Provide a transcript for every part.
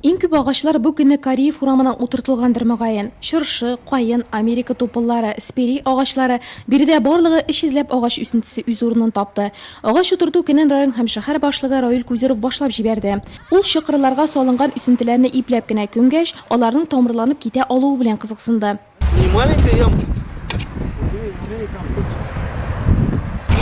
Иң күп агачлар бу көнне Кариев урамына утыртылгандыр, мөгаен. Чыршы, каен, Америка тупыллары, спирий агачлары, биредә барлыгы өч йөзләп агач үсентесе үз урынын тапты. Агач утырту көнен район һәм шәһәр башлыгы Раил Кузеров башлап җибәрде. Ул чокырларга салынган үсентеләрне ипләп кенә күмгәч, аларның тамырланып китә алуы белән кызыксынды. Не маленькая ямка.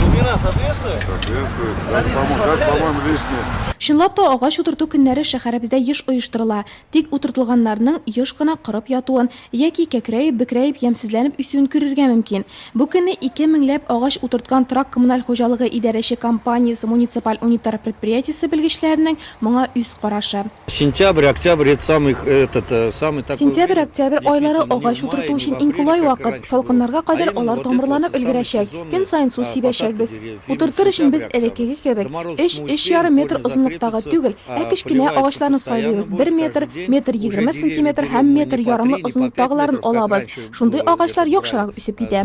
Глубина соответствует? Соответствует. Как, по-моему, как, по-моему, лишнее. Чынлап та агач утырту көннәре шәһәребездә еш оештырыла. Тик утыртылганнарның еш кына корып ятуын яки кәкрәеп, бөкрәеп, ямьсезләнеп үсүен күрергә мөмкин. Бу көнне ике меңләп агач утырткан Трак коммуналь хуҗалыгы идарәче компаниясе муниципаль униттар предприятиесе белгечләренең моңа үз карашы. Сентябрь-октябрь это самый этот самый такой Сентябрь-октябрь айлары агач утырту өчен иң кулай вакыт, салкыннарга кадәр алар тамырланып өлгерәчәк, көн саен су сибәчәкбез. Утыртыр өчен без элеккеге кебек, өч, өч ярым метр озынлыктагы түгел, ә кечкенә агачларны сайлыйбыз, бер метр, метр егерме сантиметр һәм метр ярымлы озынлыктагыларын алабыз, шундый агачлар яхшырак үсеп китә.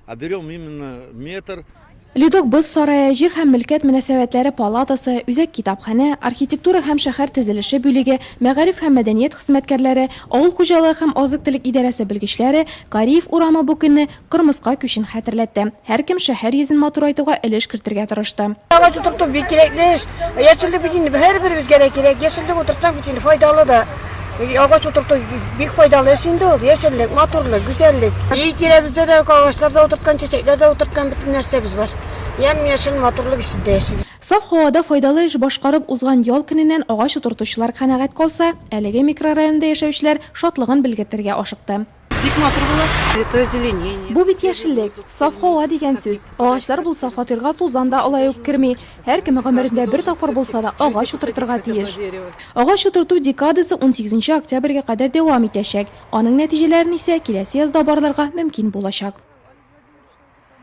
А берем именно метр. Ледок боз сарае, җир һәм мөлкәт мөнәсәбәтләре палатасы, үзәк китапханә, архитектура һәм шәһәр төзелеше бүлеге, мәгариф һәм мәдәният хезмәткәрләре, авыл хуҗалыгы һәм азык-төлек идарәсе белгечләре, Кариев урамы бу көнне кырмыска күчен хәтерләтте. Һәркем шәһәр йөзен матурайтуга өлеш кертергә тырышты. Агач утырту бик кирәкле эш. Яшеллек бит инде һәрберебезгә дә кирәк. Яшеллек утыртсак бит инде файдалы да. Агач утырту бик файдалы эш инде ул. Яшеллек, матурлык, гүзәллек. Өй тирәбездә дә агачларда утырткан, чәчәкләрдә утырткан бөтен нәрсәбез бар. Ямь-яшел матурлык эчендә яшибез. Саф һавада файдалы эш башкарып узган ял көненнән агач утыртучылар канәгать калса, әлеге микрорайонда яшәүчеләр шатлыгын белгертергә ашыкты. Бик матур булыр. Это озеленение. Бу бит яшеллек, саф һава дигән сүз. Агачлар булса, фатирга тузан да алай ук керми. Һәркем гомерендә бер тапкыр булса да агач утыртырга тиеш. Агач утырту декадасы унсигезенче октябрьгә кадәр дәвам итәчәк. Аның нәтиҗәләрен исә киләсе язда барларга мөмкин булачак.